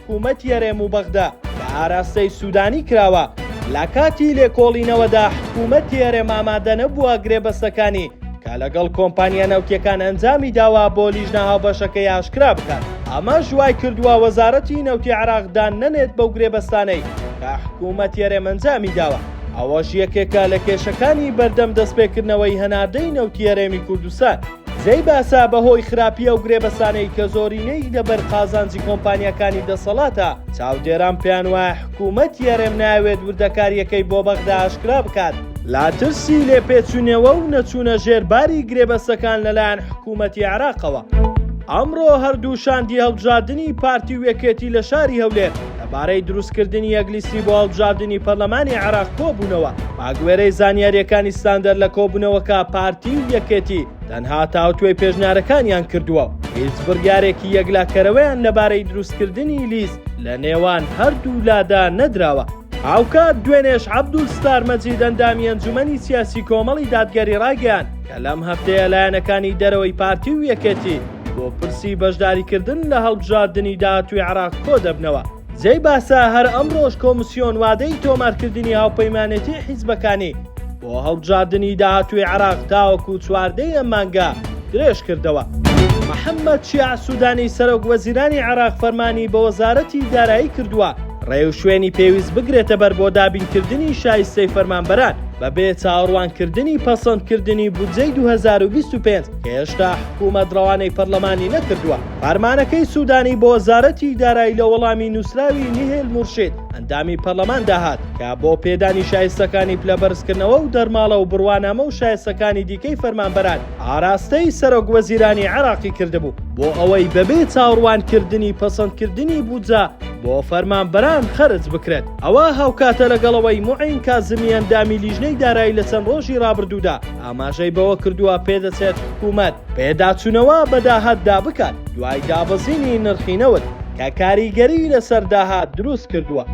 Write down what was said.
حکومەتی هەرێم و بەغدا بە ئاراستەی سودانی کراوە، لە کاتی لێکۆڵینەوەدا حکومەتی هەرێم ئامادە نەبووە گرێبەستەکانی کە لەگەڵ کۆمپانیا نەوتییەکان ئەنجامی داوە بۆ لیژنە هاوبەشەکەی ئاشکرا بکات، ئەمەش وای کردووە وەزارەتی نەوتی عێراق دان نەنێت بەو گرێبەستانەی کە حکومەتی هەرێم ئەنجامی داوە، ئەوەش یەکێکە لە کێشەکانی بەردەم دەستپێکردنەوەی هەناردەی نەوتی هەرێمی کوردستان. جێی باسە بەهۆی خراپی ئەو گرێبەسانەی کە زۆرینەی لەبەر قازانجی کۆمپانیاکانی دەسەڵاتە، چاودێران پێیان وایە حکوومەتی هەرێم نایەوێت وردەکارییەکەی بۆ بەغدا ئاشکرا بکات، لە ترسی لێپێچینەوە و نەچوونە ژێر باری گرێبەستەکان لەلایەن حکوومەتی عێراقەوە. ئەمڕۆ هەردوو شاندی هەڵبژاردنی پارتی و یەکێتی لە شاری هەولێر، لەبارەی دروستکردنی یەک لیستی بۆ هەڵبژاردنی پەرلەمانی عێراق کۆبوونەوە، بەگوێرەی زانیارییەکانی ستاندەر لە کۆبوونەوەکە پارتی و یەکێتی تەنها تاوتوێی پێشنیارەکانیان کردووە و هیچ بڕیارێکی یەکلاکەرەوەیان لەبارەی دروستکردنی لیست لە نێوان هەردوو لادا نەدراوە. هاوکات دوێنێش عەبدول ستار مەجید ئەندامی ئەنجومەنی سیاسی کۆمەڵی دادگەری ڕایگەیاند کە لەم هەفتەیە لایەنەکانی دەرەوەی پارتی و یەکێتی، بۆ پرسی بەشداریکردن لە هەڵبژاردنی داهاتووی عێراق کۆدەبنەوە. جێی باسە هەر ئەمڕۆش کۆمسیۆن وادەی تۆمارکردنی هاوپەیمانێتی حیزبەکانی بۆ هەڵبژاردنی داهاتووی عێراق تاوەکو چواردەی ئەم مانگە درێژکردەوە. محەممەد شیاع سوودانی سەرۆک وەزیرانی عێراق فەرمانی بە وەزارەتی دارایی کردووە ڕێوشوێنی پێویست بگرێتەبەر بۆ دابینکردنی شایستەی فەرمانبەران بەبێ چاوەڕوانکردنی پەسەندکردنی بودجەی دوو هەزار و بیست و پێنج. هێشتا حکومەت ڕەوانەی پەرلەمانی نەکردووە. فەرمانەکەی سودانی بۆ وەزارەتی دارایی لە وەڵامی نووسراوی نیهێل مورشید ئەندامی پەرلەماندا هات کە بۆ پێدانی شایستەکانی پلە بەرزکردنەوە و دەرماڵە و بڕوانامە و شایستەکانی دیکەی فەرمانبەران ئاراستەی سەرۆک وەزیرانی عێراقی کردبوو بۆ ئەوەی بەبێ چاوڕوانکردنی پەسەندکردنی بودجە بۆ فەرمانبەران خەرج بکرێت ئەوە هاوکاتە لەگەڵ ئەوەی موعین کازمی ئەندامی لیژنەی دارایی لە چەند ڕۆژی ڕابردوودا ئاماژەی بەوەکردووە، پێدەچێت حکومەت پێداچوونەوە بە داهاتدا بکات دوای دابەزینی نرخی نەوت، کە کاریگەری لەسەر داهات دروستکردووە.